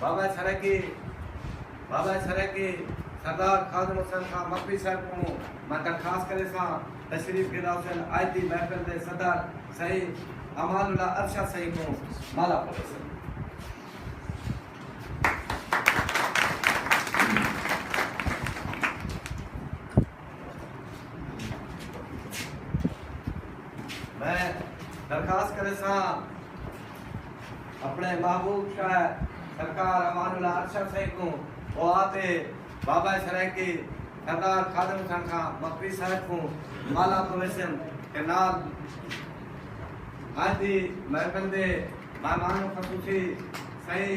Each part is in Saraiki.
بابا سرائیکی بابا سرائیکی سردار خادم حسین خان مکری صاحب کوں میں درخواست کریساں تشریف گھلا سن اج دی محفل دے صدر سئیں امان اللہ ارشد سئیں کوں مالا پرویسن۔ میں درخواست کریساں اپنے محبوب شاعر سرکار امان اللہ ارشد سئیں کوں دعا تے بابا سرائیکی سردار خادم حسین خاں مکری صاحب کوں مالا پرویشن تے نال اج دی محفل دے مہمان خصوصی سئیں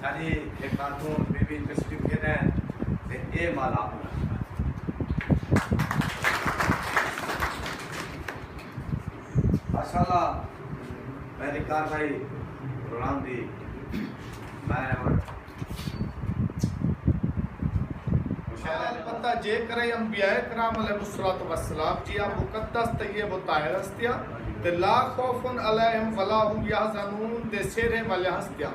ساݙی اے خاتون بی بی مس یو کے نیں تے اے مالا انہاں دی ہا۔ ماشاءاللہ میں دی کاروائی دوران دی میں ہݨ مشاعرے دے بعد۔ البتہ جے کرئیں انبیاء کرام علیہم الصلوۃ والسلام جیہاں مقدس طیب و طاہر ہستیاں تے لا خوف علیہم ولا ھم یحزنون دے سیرھے والیاں ہستیاں۔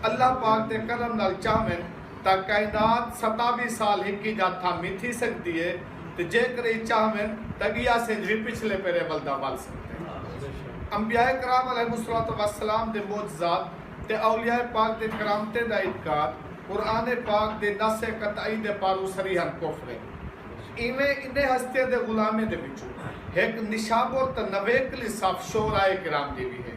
اللہ پاک دے کرم نال چاہون تاں کائنات ستاوی سال ہکی جاہ تھامی تھی سگدی اے تے جیکرئی چاہون تاں گیاس انج وی پچھلے پیرے ول دا ول سگدے۔ انبیاء کرام علیہم الصلوۃ والسلام دے معجزات تے اولیاء پاک دے کرامتیں دا انکار قرآن پاک دے نص قطعی دے پاروں صریحا کفر اے۔ ایویں انہیں ہستیاں دے غلامیں دے وچوں ہک نشابور تاں نویکلی صف شعراء کرام دی وی ہے۔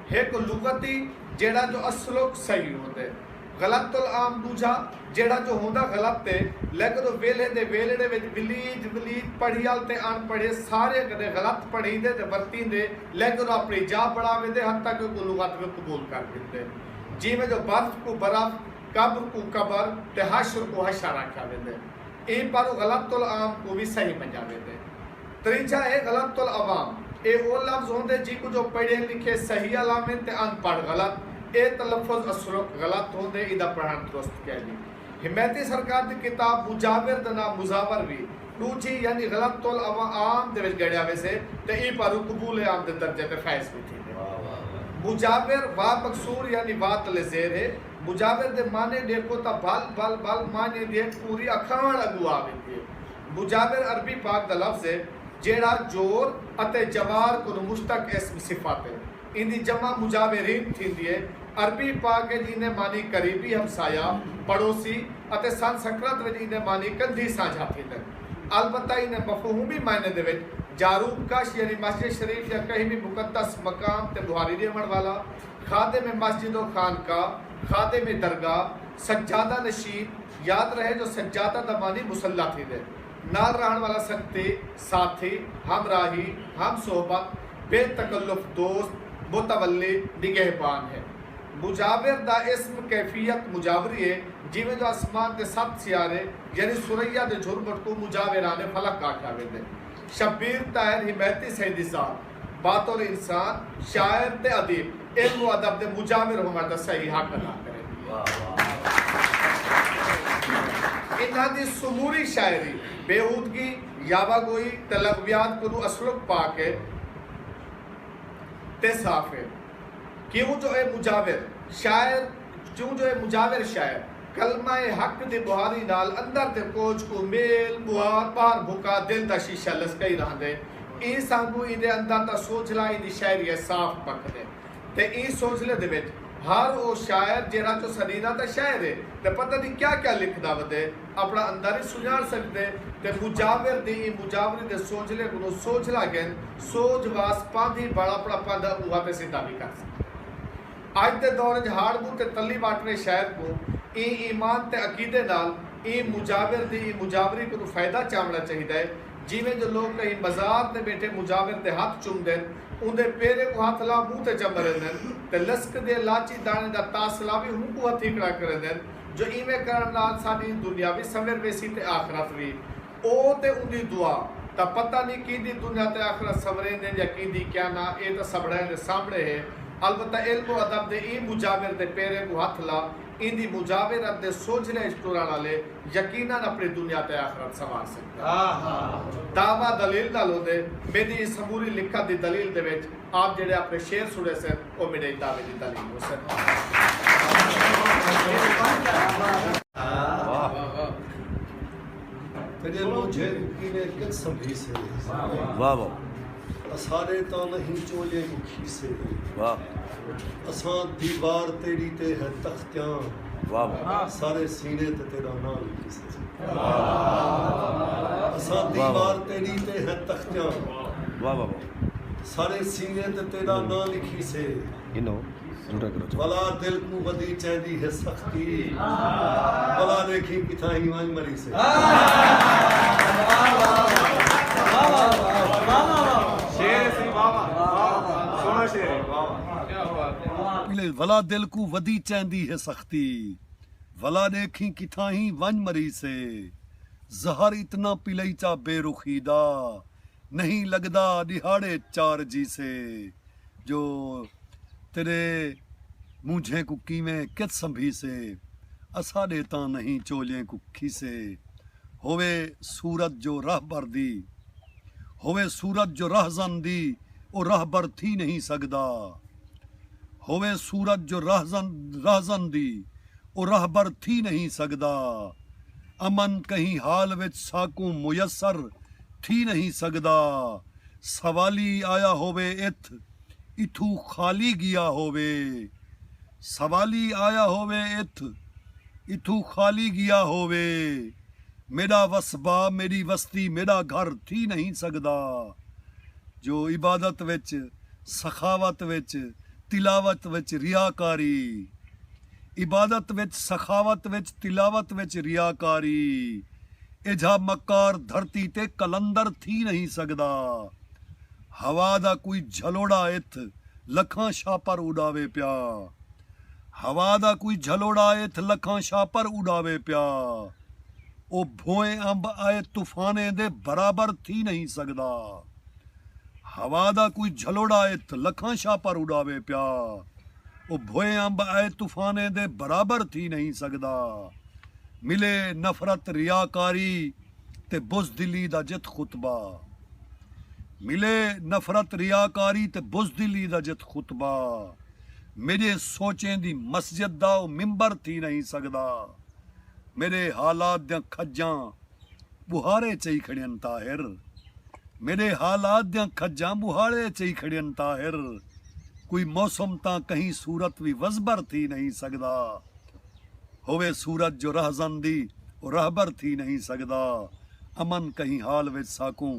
ہک لغتی جیڑھا جو اصلوک صحیح ہوندے غلط العام ڈوجھا جیڑھا جو ہوندا غلط تے لیکن او ویلھے دے ویلھڑے وچ ولیج ولیج پڑھیال تے اݨ پڑھے سارے کڈھے غلط پڑھیندے تے ورتیندے لیکن او اپݨی جاہ بݨا ویندے حتی کہ کوں لغت وی قبول کر گھندے جیویں جو برف کوں برف قبر کوں قبر تے حشر کوں حشر آکھیا ویندے ایں پاروں غلط العام کوں وی صحیح منیا ویندے۔ تریجھا اے غلط العوام اے او لفظ ہوندے جیکوں جو پڑھے لکھے صحیح الامن تے ان پڑھ غلط اے تلفظ اصلوچ غلط ہوندے ایدا پڑھن درست کینی حمایتی سرکار دی کتاب مجاور دا ناں مزاور وی ڈوجھی یعنی غلط العوام دے وچ گنڑیا ویسے تے ایں پاروں قبول عام دے درجے تے فائز وی تھیندے مجاور وا مکسور یعنی وا تلے زیر اے مجاور دے معنی ڈیکھو تاں بھل بھل بھل معنی دی ہک پوری اکھاوݨ اگوں آ ویندی اے۔ مجاور عربی پاک دا لفظ ہے جیڑھا جور اتے جوار کنوں مشتق اسم صفت ہے۔ ایندی جمع مجاورین تھیندی ہے۔ عربی پاک اچ ایندے معنی قریبی ہمسایہ، پڑوسی، اتے سنسکرت وچ ایندے معنی کندھی سانجھا تھیندن۔ البتہ ایندے مفہومی معنی دے وچ جاروب کش یعنی مسجد شریف یا کہیں وی مقدس مقام تے ٻوہاری ݙیوݨ والا، خادم مسجد و خانقاہ، خادم درگاہ، سجادہ نشین، یاد رہے جو سجادہ دا معنی مصلی تھیندے۔ نال رہݨ والا سنگتی، ساتھی، ہم راہی، ہم صحبت، بے تکلف دوست، متولی، نگہبان ہے۔ مجاور دا اسم کیفیت مجاوری ہے جیویں جو اسمان دے ست سیارے یعنی ثریا دے جھرمٹ کوں مجاوران فلک آکھیا ویندے۔ شبیر طاہر حمایتی سئیں دی ذات۔ بطور انسان، شاعر تے ادیب علم و ادب دے مجاور ہووݨ دا صحیح حق ادا کریندے۔ انہاں دی سموری شاعری بیہودگی، یاوہ گوئی تے لغویات کنوں اسلوق پاک ہے تے صاف ہے کیوں جو اے مجاور، شاعر، چوں جو اے مجاور شاعر کلمہ حق دی بہاری نال اندر دے کوچ کوں میل بہار بار بھکا دل دا شیشہ لسکئی رہندے ایں سانگوں ایندے اندر دا سوجھلا ایندی شاعری اچ صاف پکھدے تے ایں سوجھلے دے وچ ہر او شاعر جیرھا جو سنینا تاں شاعر اے تے پتہ نی کیا کیا لکھدا ودے اپنا اندر اچ سنڄاݨ سڳدے تے مجاور دی ایں مجاوری دے سوجھلے کنوں سوجھلا گھن سوجھ واس پاندھی بݨ اپنا پندھ اونہاں تے سدھا وی کر سڳدے۔ اڄ دے دور اچ ہاڑ بو تے تلی واٹرے شاید کوں ایں ایمان تے عقیدے نال ایں مجاور دی ایں مجاوری کنوں فائدہ چاونڑا چاہیدا ہے جیویں جو لوک کہیں مزار تے بیٹھے مجاور دے ہتھ چمدن اوندے پیرے کوں ہتھ لا منہ تے چمریندن تے لسک دیے لاچی دانے دا تاثلا وی ہونکوں ہتھیکڑا کریندن جو ایویں کرنڑ نال ساڈی دنیا وی سنور ویسی تے آخرت وی او تے اوندی دعا تاں پتہ نی کیندی دنیا تے آخرت سنوریندین یا کیندی کیا نہ اے تاں سبھڑئیں دے سامھڑے ہے البتہ علم و ادب دے ایں مجاور دے پیریں کوں ہتھ لا ایندی مجاورت دے سوجھرے اچ ٹرݨ آلے یقینا اپݨی دنیا تے آخرت سنوار سڳدن۔ دعوی دلیل نال ہوندے میݙی ایں سموری لکھت دی دلیل دے وچ آپ جیڑھے اپݨے شعر سݨیسن او میݙے ایں دعوی دی دلیل ہوسن۔ تیݙے لوجھے کوں کینے کچ سنبھیسے واہ واہ اساݙے تاں نہیں چولیں کوں کھیسے واہ اساں دیوار تیݙی تے ہے تختیاں واہ واہ سارے سینے تے تیݙا ناں لکھیسے اساں دیوار تیݙی تے ہے تختیاں واہ واہ سارے سینے تے تیݙا ناں لکھیسے انہو بلا دل کوں ودی چیندی ہے سختی بلا ڈیکھیں کتھاں ہی ونج مریسے بلا دل کوں ودی چیندی ہے سختی بلا ڈیکھیں کتھاں ہی ونج مریسے زہر اتنا پلئی چا بے رخی دا نہیں لگدا ڈیہاڑے چار جیسے جو تیݙے مونجھیں کوں کیویں کت سنبھیسے اساݙے تاں نہیں چولیں کوں کھیسے ہووے صورت جو رہبر دی ہووے صورت جو رہزن دی او رہبر تھی نہیں سڳدا ہووے صورت جو رہزن رہزن دی او رہبر تھی نہیں سڳدا امن کہیں حال وچ ساکوں میسر تھی نہیں سڳدا۔ سوالی آیا ہووے اتھ اتھوں خالی گیا ہووے سوالی آیا ہووے اتھ اتھوں خالی گیا ہووے میݙا وسبا میݙی وستی میݙا گھر تھی نہیں سڳدا جو عبادت وچ سخاوت وچ تلاوت وچ ریاکاری عبادت وچ سخاوت وچ تلاوت وچ ریاکاری ایجھا مکار دھرتی تے قلندر تھی نہیں سڳدا ہوا دا کوئی جھلوڑا اتھ لکھاں شاپر اݙاوے پیا ہوا دا کوئی جھلوڑا اتھ لکھاں شاپر اݙاوے پیا او بھوئیں امب آئے طوفانیں دے برابر تھی نہیں سڳدا۔ ہوا دا کوئی جھلوڑا ات لکھاں شاپر اڈاوے پیا او بھوئے امب اے طوفانیں دے برابر تھی نہیں سگدا ملے نفرت ریاکاری تے بزدلی دا جت خطبہ ملے نفرت ریاکاری تے بزدلی دا جت خطبہ میڈے سوچیں دی مسجد دا او ممبر تھی نہیں سگدا میڈے حالات دیاں کھجاں ٻوہاڑے چئی کھڑین طاہر میݙے حالات دیاں کھجاں ٻوہاڑے چئی کھڑین طاہر کوئی موسم تاں کہیں صورت وی وزبر تھی نئیں سڳدا ہووے صورت جو رہزن دی او رہبر تھی نئیں سڳدا امن کہیں حال وچ ساکوں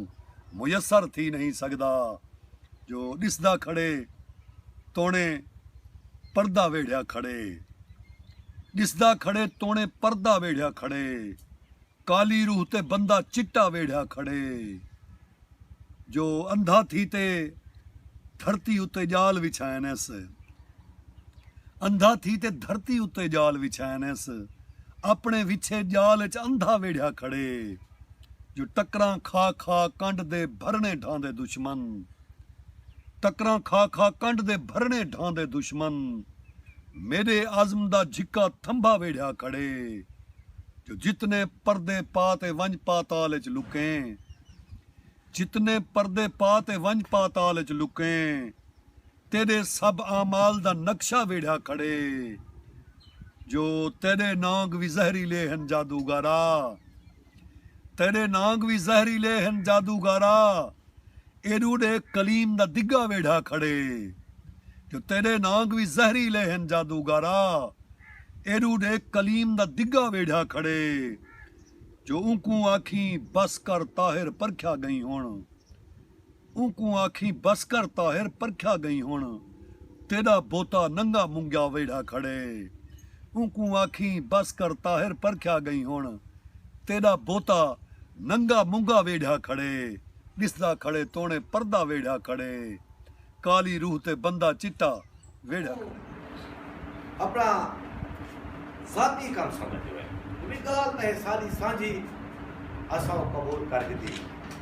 میسر تھی نئیں سڳدا جو ݙسدا کھڑے توݨے پردہ ویڑھیا کھڑے ݙسدا کھڑے توݨے پردہ ویڑھیا کھڑے۔ کالی روح تے بندہ چٹا ویڑھیا کھڑے جو اندھا تھی تے دھرتی اتے جال وچھائنس اندھا تھی تے دھرتی اتے جال وچھائنس اپنے وچھے جال اچ اندھا ویڑھیا کھڑے جو ٹکراں کھا کھا کنڈ دے بھرنے ڈھاندے دشمن ٹکراں کھا کھا کنڈ دے بھرنے ڈھاندے دشمن میڈے عزم دا جھکا تھمبا ویڑھیا کھڑے۔ جو جتنے پردے پا تے ونج پاتال اچ لکیں جتنے پردے پا تے ونج پاتال اچ لکیں تیڈے سب اعمال دا نقشہ ویڑھا کھڑے جو تیڈے نانگ وی زہریلے ہن جادوگرا تیڈے نانگ وی زہریلے ہن جادوگرا ایݙوں ݙے کلیم دا دگا ویڑھا کھڑے جو تیݙے نانگ وی زہری لے ہن جادوگارا ایݙوں ݙے کلیم دا دگا ویڑھا کھڑے جو اونکوں آکھیں بس کر طاہر پرکھیا ڳئیں ہݨ اونکوں آکھیں بس کر طاہر پرکھیا ڳئیں ہݨ۔ تیݙا بوتا ننگا منگا ویڑھا کھڑے اونکوں آکھیں بس کر طاہر پرکھیا ڳئیں ہݨ تیݙا بوتا ننگا منگا ویڑھا کھڑے ݙسدا کھڑے توݨے پردہ ویڑھا کھڑے کالی روح تے بندہ چٹا ویڑھا کھڑے۔ اپݨا ذاتی کم سمجھدے ہوئے وی ڳالھ تاں ہے ساݙی سانجھی اساں او قبول کر گھدی۔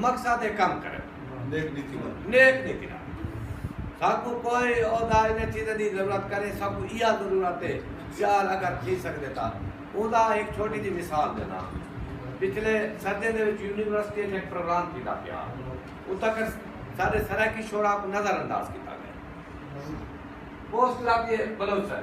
مقصد دے کم کرن۔ نیک نیتی نال۔ نیک نیتی نال۔ ساکوں کوئی عہدہ انہاں چیزاں دی ضرورت کریں ساکوں ایہا ضرورت ہے چار اگر تھی سکدے تاں اوندا ہک چھوٹی جی مثال ݙینداں پچھلے سردیاں دے وچ یونیورسٹی اچ ہک پروگرام تھیندا پیا اتھاں کر ساݙے سرائیکی شعراء کوں نظر انداز کیتا ڳئے پوسٹ لاتی ہے بلوچ سر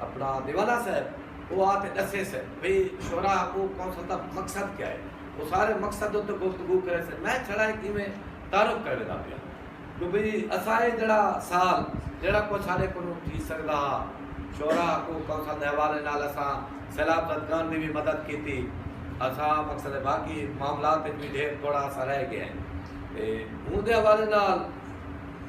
اپنا دیوانہ سئے او آ تے ڈسے سئے بھئی شعرا کو کونسل دا مقصد کیا ہے او سارے مقصد اتے گفتگو کرے سئے میں چھڑا ہک ایویں تعارف کرنے دا پیا جو بھئی اساں اے جڑا سال جڑا کچھ سارے کو نوں تھی سکدا ہا شعرا کو کونسل دے حوالے نال اساں سیلاب زدگان دی وی مدد کیتی اساں مقصد باقی معاملات وچ وی ڈھیر تھوڑا سا رہ گئے ہیں تے اوں دے حوالے نال